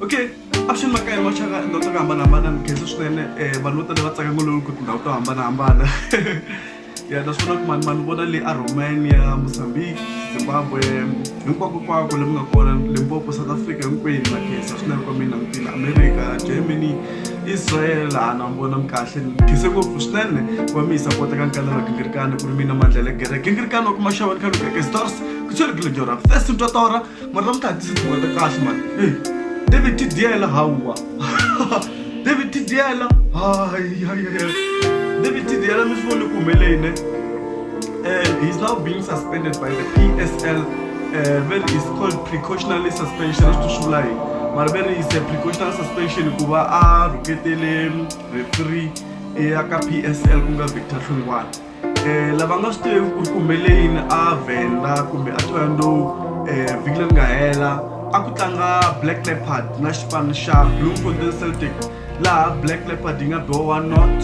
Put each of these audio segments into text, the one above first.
okay avuxeni makaya hi maxaka ndhawu to hambanahambana ni khensa swinene um vanhu vo tala va tsaka ngololo ku tindhawu to hambanahambana ya ta swi vona ku mani mani vona le aromania mozambique zimbabwe hinkwako kwako le mi nga kona limpopo south africa hinkwenu na khensa swinene kwa mina mutini america germany israel hana mi vona mi kahle ni khense ngopfu swinene ku va mi yi sapota ka nkala ra gingirikani ku ri mina mandlela gere gingirikani wa ku maxava ni khaluka ke stars ku tshweri gilejorap thesintwatora mara swi ta hatlisa swi hungata kahle mani e david tidyela hawa david tidyela hayayaya david tidyela mi swi vone ku humeleyine um eh, he's now being suspended by the psl eh, ve ri is called precautionally suspension a swi to swi vula yini mara ve ri is a precautional suspension ku va a rhuketele refree eka psl ku nga victor hlungwana um lava nga swi tiveki ku ri ku humelele yini a venda kumbe a thoyando um eh, vhiki leri nga hela a ku tlanga black leopard na xipano xa blue golden celtic laha black leopard yi nga biwa one not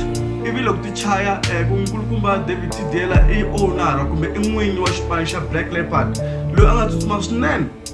ivi loko ti chaya um eh, kunkulukumba david tidela i owner kumbe i n'winyi wa xipano xa black leopard loyi a nga tsutsuma swinene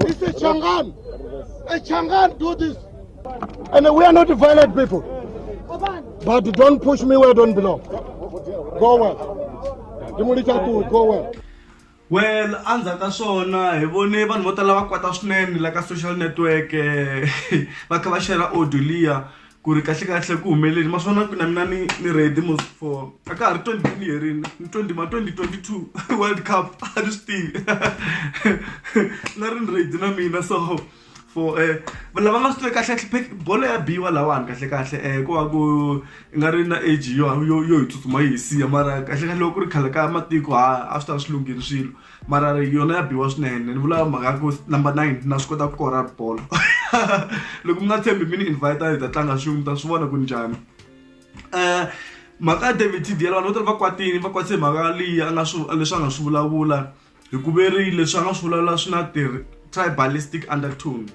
This is Changan. A Changan do this. And we are not violent people. But don't push me where I don't belong. Go well. Go well. well endzhaku ka swona hi vone vanhu vo tala va kwata swinene la ka social network eh, va kha va xera audio liya ku ri kahle kahle ku humeleli ma swona ku na mina ni ni ready mos for a ka ha ri twenty ni herini ni twenty ma twenty twenty two world cup a ni swi tivi na ri ni ready na mina so for um lava nga swi tivi kahle kahle bolo ya biwa lahawani kahle kahle um ku va ku i nga ri na age yo yo yo hi tsutsuma yi hi siya mara kahle kahle loko ku ri khale ka matiko ha a swi ta va swi lunghile swilo. mara yona ya biwa swinene ni vula mhaka ya ku number nine na swi kota ku kora bolo loko mi nga tshembi mi ni invite hi ta tlanga xin'we mi ta swi vona ku njhani um mhaka ya david tdl vanhu vo tala va kwatini va kwatise mhaka leyi a nga swi leswi a nga swi vulavula hi ku veri leswi a nga swi vulavula swi na ti tribalistic undertone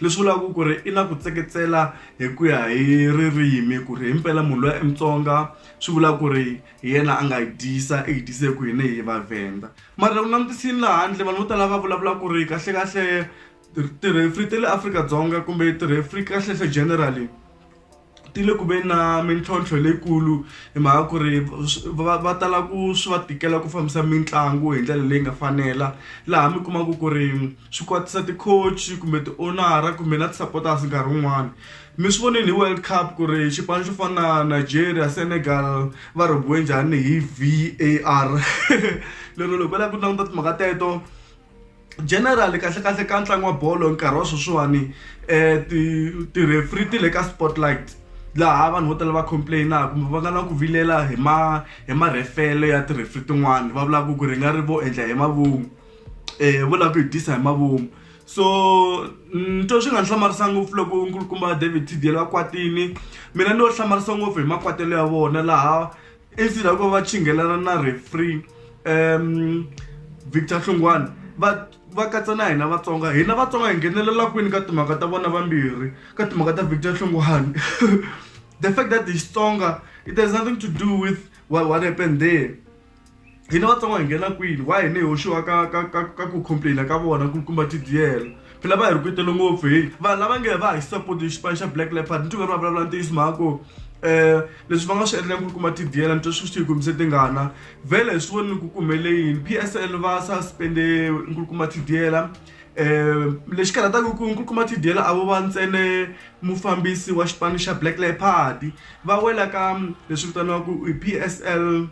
leswi vulaka ku ri i na ku tseketsela hi ku ya hi ririmi ku ri himpela munhu loyi i mutsonga swi vula ku ri hi yena a nga hi dyisa i hi dyise ku hina hi vavhenda mara u langutisini laha handle vanhu vo tala va vulavula ku ri kahlekahle tirhefri ta le afrika-dzonga kumbe tirhefri kahlekahle generally ti le ku ve na mintlhontlho leyikulu hi mhaka ku ri va va tala ku swi va tikela ku fambisa mitlangu hi ndlela leyi nga fanela laha mi kumaka ku ri swi kwatisa ti-coach kumbe ti-owner-a kumbe na ti-supporters nkarhi wun'wani. mi swi vonile hi world cup ku ri xipano xo fana na nigeria senegal va rhobiwe njhani hi var lero loko va lava ku languta timhaka teto general kahlekahle ka ntlangu wa bolo nkarhi wa sweswiwani um tirefri ti le ka spotlight laha vanhu vo tala va complainaka kumbe va nga na ku vilela hi ma hi marhefelo ya tirefri tin'wani va vulaka ku ri nga ri vo endla hi mavun'wa um vo lava ku hi tisa hi mavun'wa so ni twa swi nga ni hlamarisa ngopfu loko nkulukumba david tdl va kwatini mina ni lo hlamarisa ngopfu hi makwatelo ya vona laha instead ya ku va chingelana na refree um victor hlungwane va va katsa na hina vatsonga hina vatsonga hi nghenelela kwini ka timhaka ta vona vambirhi ka timhaka ta victor hlungwane the fact that hi xitsonga it has nothing to do with what, what happened there hina vatsongo hi nghena kwini wa hina hi hoxiwa ka ka ka ka ku complaina ka vona ku kuma tidiyela phela va hi rhuketele ngopfu hi vanhu lava nge va hi support hi xipano xa black leopard ni tingani va vulavula ntiyiso mhaka ku um leswi va nga swi endleni ku kuma tidiyela ni twa swi swi hi kumise tingana vhele hi swi voni ni ku kumele yini p s l va suspende nkulukuma tidiyela um lexi karhataka ku nkulukuma tidiyela a vo va ntsene mufambisi wa xipano xa black leopard va wela ka leswi vitaniwaku i p s l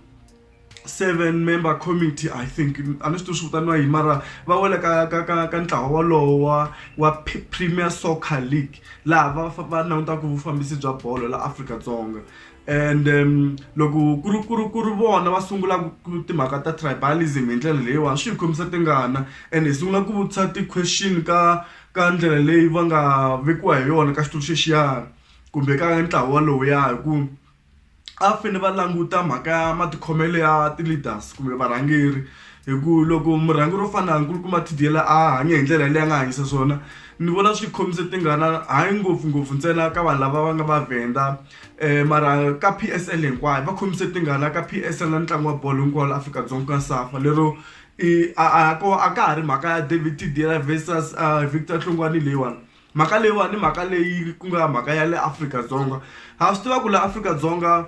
seven member committee i think a ni swi tivi swi vitaniwa yini mara va wela ka ka ka ka ntlawa wolowo wa wa premier soccer league laha va va langutaka vufambisi bya bolo la Afrika-Dzonga and um loko ku ri ku ri ku ri vona va sungula timhaka ta tribalism hi ndlela leyiwani swi hi khomisa tingana and hi sungula ku vutisa ti-question ka ka ndlela leyi va nga vekiwa hi yona ka xitulu xexiyani kumbe ka ntlawa lowuya hi ku a va fanele va languta mhaka ya matikhomelo ya ti-leaders kumbe varhangeri hi ku loko murhangeri wo fana na nkulukumba T_D_L a hanya hi ndlela leyi a nga hanyisa swona ni vona swi khomise tingana hayi ngopfungopfu ntsena ka vanhu lava va nga Mavhenda mara ka P_S_L hinkwayo va khomise tingana ka P_S_L na ntlangu wa bolo hinkwawo la Afrika-Dzonga ku nga SAFA lero i a a ko a ka ha ri mhaka ya David T_D_L versus Victor Hlongwane leyiwani. mhaka leyiwani i mhaka leyi ku nga mhaka ya le Afrika-Dzonga ha swi tiva ku la Afrika-Dzonga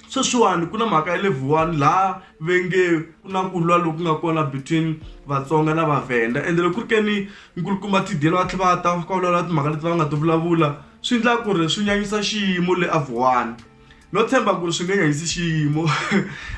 sweswiwani ku na mhaka ya level one laha ve nge ku na ku lwa loku nga kona between Vatsonga na Vavhenda ende loko ku ri ke ni nkulukumba T_D_L va tlhe va ta va fika va vulavula timhaka leti va nga ti vulavula swi endla ku ri swi nyanyisa xiyimo le a Vuwani no tshemba ku ri swi nge nyanyisi xiyimo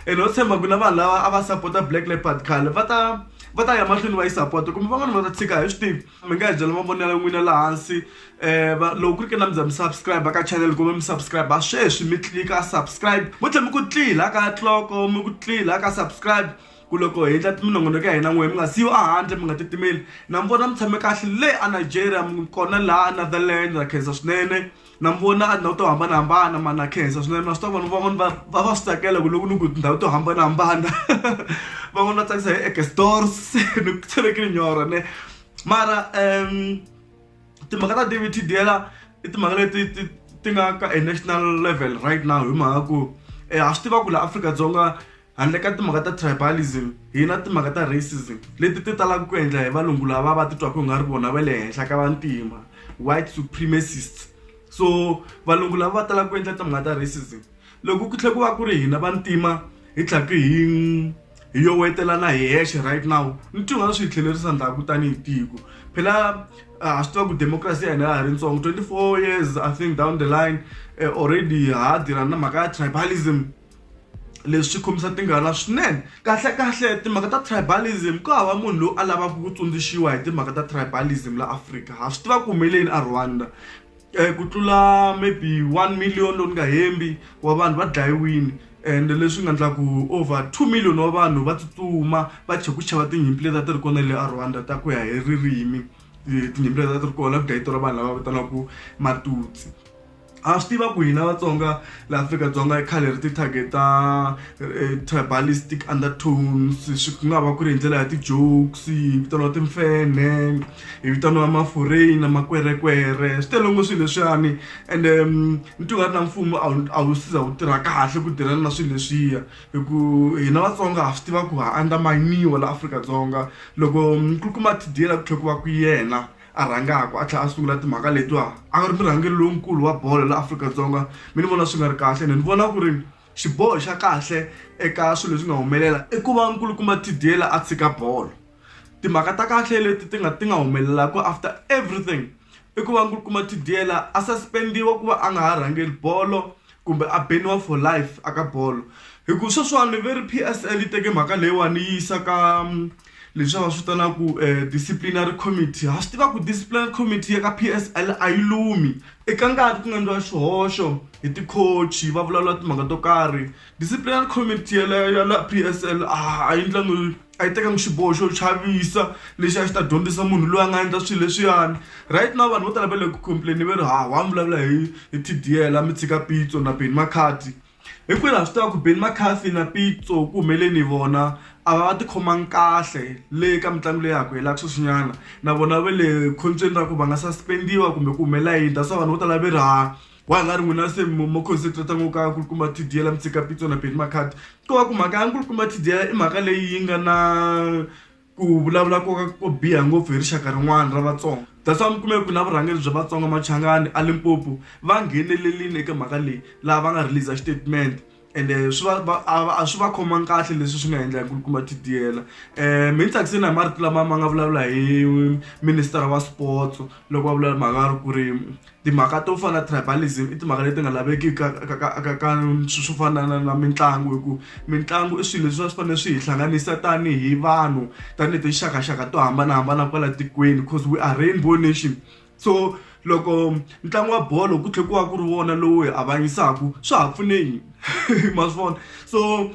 ene no tshemba ku na vanhu lava a va sapota Black Leopard khale va ta va ta ya mahlweni va yi sapota kumbe van'wani va ta tshika a hi swi tivi. mi nga hi byela mavonelo ya n'wina laha hansi um loko ku ri ke na mi za mi subscribe ka channel kumbe mi subscribe ha sweswi mi tlilika subscribe vo tlhe mi ku tlila ka tloko mi ku tlila ka subscribe ku loko hi endla minongonoko ya hina n'wehe mi nga siyo ehandle mi nga titimeli na mi vona mi tshame kahle le anigeria kona laha anotherland na khensa swinene na mi vona a tindhawu to hambanahambana ma na khensa swinene na swi tiva vanhu van'wani va va va swi tsakela ku loko ni ku tindhawu to hambanahambana van'wani va tsakisa hi ekestors ni ku tshelekile nyora ne mara um timhaka ta david tidela i timhaka leti ti ti nga ka e national level right now hi mhaka ku um ha swi tiva ku laha afrika-dzonga Handle ka timhaka ta tribalism, hi na timhaka ta racism leti ti talaka ku endla hi valungu lava va titwaka nga ri vona va le henhla ka vantima, white supremacists. So valungu lava va talaka ku endla timhaka ta racism loko ku tlhela ku va ku ri hina vantima hi tlhaka hi hi yo wetelana hi hexe right now ni ti nga swi hi tlhelerisa ndhaku tanihi tiko phela ha swi tiva ku democracy ya hina ya ha ri ntsongo twenty four years i think down the line already ha ha tirha na mhaka ya tribalism. leswi khomisa tingana swinene kahlekahle timhaka ta tribalism ku hava munhu loyi a lavaka ku tsundzuxiwa hi timhaka ta tribalism la afrika ha swi tiva ku humeleni a rwanda um ku tlula maybe one million lowu ni nga hembi wa vanhu va dlayiwini and leswi nga endla ku over two million wa vanhu va tsutsuma va chhe ku xava tinyimpi leti a ti ri kona le a rwanda ta ku ya hi ririmi tinyimpi leti a ti ri kona ku dlayitora vanhu lava vitanaku matutsi ha swi tiva ku hina vatsonga laha afrika-dzonga i khale ri ti-target ta eh, tribalistic undertones swi ku nga va ku ri hi ndlela ya ti-jokes hi vitaniwa timfene hi vitaniwa mafureni na makwerekwere swi tele ngo swilo leswiyani ende mm, ni ti nga ri na mfumo a wu siza wu tirha kahle ku tirhana na swilo leswiya hi ku hina vatsonga ha swi tiva ku ha andamaniwa la afrika-dzonga loko mm, ku kuma tidiyela ku tlhe ku va ku yena a rhangaka a tlhela a sungula timhaka letiwa a nga ri murhangeri lonkulu wa bolo la Afrika-Dzonga mi ni vona swi nga ri kahle ni ni vona ku ri xiboho xa kahle eka swilo leswi nga humelela i ku va nkulukumba Tidyela a tshika bolo timhaka ta kahle leti ti nga ti nga humelelaku after everything i ku va nkulukumba Tidyela a suspend-iwa ku va a nga ha rhangeli bolo. kumbe a beniwa for life a ka bolo hi ku sweswiwani ve ri p s l yi teke mhaka leyiwani yi yisa ka mm, leswi va swi vitanaka um eh, disciplinary committee ha swi tiva ku disciplinary committee ya ka p s l a yi lumi eka ngati ku nga endliwa swihoxo hi tikhochi va vulavula timhaka to karhi disciplinary committee yaleyo ya la p s l a yi ndlangi a yi tekanga xiboho xo chavisa lexi a xi ta dyondzisa munhu loyi a nga endla swilo leswiyani right now vanhu vo tala va le ku complain va ri ha wa mi vulavula hi hi tdl a mi tshika pitso na beni makhati hi kwini ha swi tiva ku beni makhati na pitso ku humeleni vona a va va tikhomangi kahle le ka mitlangu leyi haku helaka sweswinyana na vona va le khombyeni ra ku va nga suspendiwa kumbe ku humelela yini that's why vanhu vo tala va ri ha gwala ri n'wina se mo concentrata ngo ka nkulukumba tidiyela mitsika pitso na beni makhadi ko va ku mhaka ya nkulukumba tidiyela i mhaka leyi yi nga na ku vulavula koka ko biha ngopfu hi rixaka rin'wana ra vatsonga that's why mi kume ku na vurhangeri bya vatsonga machangani a limpopo va nghenelerile eka mhaka leyi laha va nga release statement ende swi va va a va- a swi va khomangi kahle leswi swi nga endla ku kuma tidiyela um mi ni tsakiseni hi marito lama ma nga vulavula hi ministera wa sports loko va vulavula mhaka ya ri ku ri timhaka to fana na tribalism i timhaka leti nga laveki ka ka- ka- ka- ka swi swo fana na na mitlangu hi ku mitlangu i swilo leswi a swi fanele swi hi hlanganisa tanihi vanhu tanihi tinxakaxaka to hambanahambana kwala tikweni cause we are rainbow nation so loko ntlangu wa bolo ku tlhela ku va ku ri wona lowu hi avanyisaka swa ha pfune yini ma swi vona so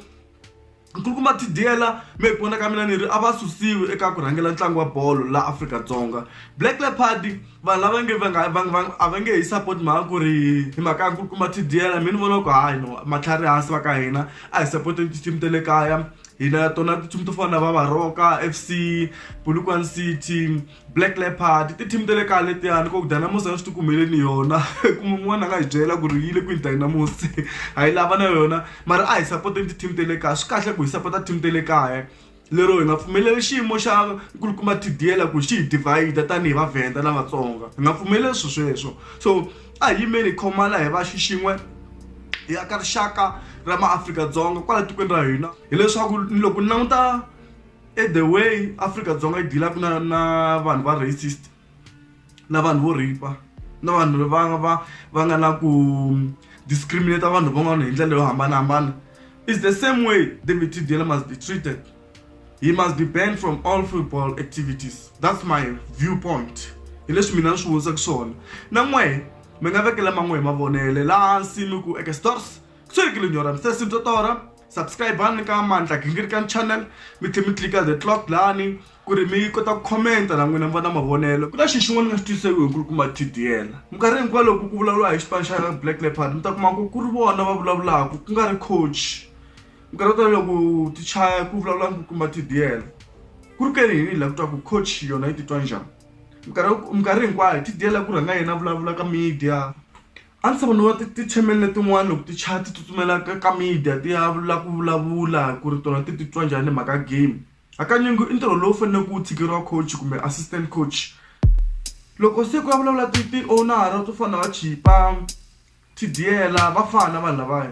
nkulukumba tidiyela me hi ku vona ka mina ni ri a va susiwi eka ku rhangela ntlangu wa bolo laha afrika-dzonga black leopard vanhu lava nge va nga va va a va nge hi support mhaka ku ri hi mhaka ya nkulukumba tidiyela mi ni vona ku hayi no matlhari hansi va ka hina a hi support ti-team ta le kaya hina tona ti-team to fana na va varoka f c bulukwan city black leopard ti-team ta le kaya letiyani ko dynamus a swi ti kumeleni yona kumbe un'wana a nga hi byela ku ri yi le kwini dynamus a yi lava na yona mara a hi sapoteni ti-team ta le kaya swi kahle ku hi sapota team ta le kaya lero hi nga pfumeleli xiyimo xa nkulukumba tdiyela ku xi hi divhayida tanihi vavhenda na vatsonga hi nga pfumeleli swi sweswo so a hi yimeni hi khomana hi va xixin'we hi aka rixaka ra maafrika-dzonga kwala tikweni ra hina hileswaku loko ni languta e the way afrika-dzonga yi dilaka na na vanhu va racist na vanhu vo ripa na vanhu va va va nga na ku discriminate vanhu van'wana hi ndlela yo hambanahambana is the same way david tdela must be treated he must be banned from all football activities that's my viewpoint hi leswi mina ni swi vonisaka swona na n'wehe mi nga vekela man'we hi mavonele laha hansi mi ku eka stores ku tshwekile nyora mi se sintwa tora subscribe-ani ka mandla gingirikani channel mi tlhe mi tlika the clock lani ku ri mi kota ku khomenta na n'wina mi va na mavonelo ku na xi xin'wana ni nga xi twiseki hi nkulukumba tdl minkarhi hinkwayo loko ku vulavuriwa hi xipano xa black leopard mi ta kuma ku ku ri vona va vulavulaka ku nga ri coach minkarhi yo tala loko ti chaya ku vulavula nkulukumba tdl ku ri ke ni yini la ku twa ku coach yona yi titwa njhani minkarhi minkarhi hinkwayo tdl ku rhanga yena vulavula ka media a ndzi ta ku ni va ti-channel letin'wani loko ti chaya ti tsutsumela ka ka media ti ya la ku vulavula ku ri tona ti titwa njhani hi mhaka game hakanyingi i ntirho lowu faneleke wu tshikeriwa coach kumbe assistant coach loko se ku ya vulavula ti ti-owner-a to fana na va chipa tidiyela va fana vanhu lavaya.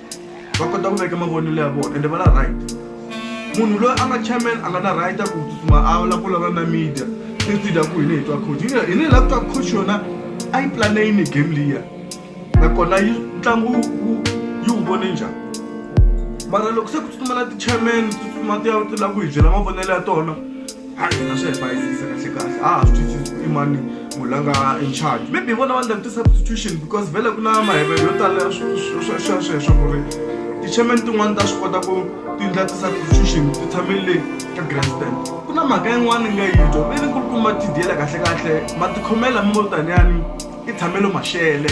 va kota ku veka mavonelo ya vona ende va na right munhu loyi a nga chairman a nga na right a ku tsutsuma a la ku lava na media instead ya ku hine hi twa coach hine hine la ku twa coach yona a yi plane yini game liya nakona yi ntlangu yi wu vone njhani mara loko se ku tsutsuma na ti-chairman tsutsuma ti ya ti la ku hi byela mavonelo ya tona a hi nga swi hi bayizisa kahle kahle a ha swi twisisi i mani munhu la nga in charge maybe vona va ndla ti-substitution because vhele ku na mahevelo yo tala sweswo ku ri ti-chairman tin'wani ta swi kota ku ti ndla ti-substitution ti tshamile le ka grandstand ku na mhaka yin'wana ni nga yi twa ve ni kulukumba tidiyela kahle kahle matikhomela mi vo taniyani i tshamelo maxele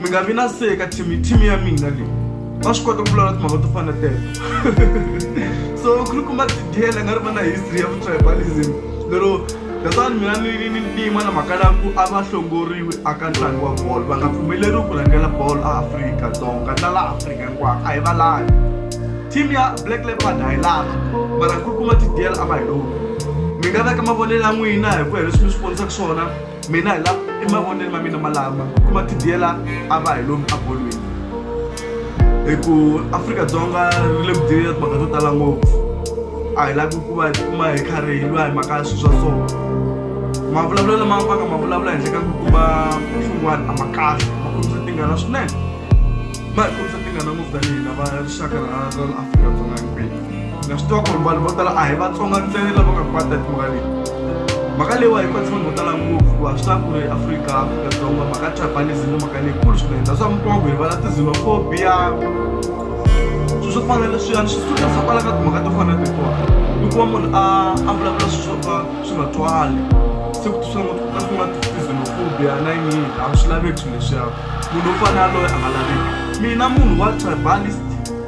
mi nga vi na seka team team ya mina leyi va swi kota ku vulavula timhaka to fana telo so khulukumba tidiyela nga ri va na history ya vutribalism lero that's why mina ni ni ni ntima na mhaka laku a va hlongoriwi aka ntlangu wa bolo va nga pfumeleriwi ku rhangela bolo a afrika dzonga na laha afrika hinkwako a hi va lavi team ya black leopard a hi lavi mara khulukumba tidiyela a va hi lovi mi nga veka mavonelo ya n'wina hi ku ya leswi mi swi vonisaka swona mina hi la emavonelo ma mina malama kuma tidiyela a va hi lomu abolweni hi ku afrika-dzonga ri le ku diyela timhaka to tala ngopfu a hi lavi ku va hi kuma hi karhi hi lwa hi mhaka ya swilo swa so mavulavulelo lama va nga ma vulavula henhla ka ku kuma swin'wana a ma kahle ma kombisa tingana swinene ma hi kombisa tingana ngopfu tanihi na va rixaka ra afrika-dzonga himpela na swi tiva ku ri vanhu vo tala a hi vatsonga ntsena lava nga kwata hi timhaka leyi mhaka leyiwa yi kwatisa vanhu vo tala ngopfu hikuva swi tiva ku ri afrika afrika-dzonga mhaka tribalism mhaka leyi kulu swinene na swa mukoko hi vala tizinophobia swilo swo fana leswiyani swi suka swa kwala ka timhaka to fana tetiwa hikuva munhu a a vulavula swilo swo ka swi nga twali se ku twisana ngopfu ka swi nga tizinophobia na yini a swi laveki swilo leswiya munhu wo fana yaloye a nga laveki mina munhu wa tribalist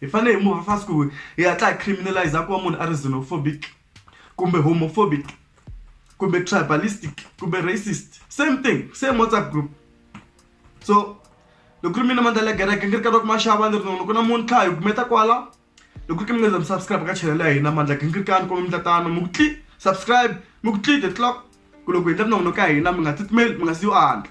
hi fane hi move fast ku hi hatla hi criminalize ku va munhu a ri xenophobic kumbe homophobic kumbe tribalistic kumbe racist same thing same whatsapp group so loko ku ri mina mandla ya gereke ngi ri karhi ku maxava ni ri nono ku na muntlha hi kumeta kwala loko ku ri mi nga mi subscribe ka channel ya hina mandla ngi ri kani kumbe mtatana mi ku tli subscribe mi ku tli the clock ku loko hi ndla nono ka hina mi nga tsutsumeli mi nga si yo andla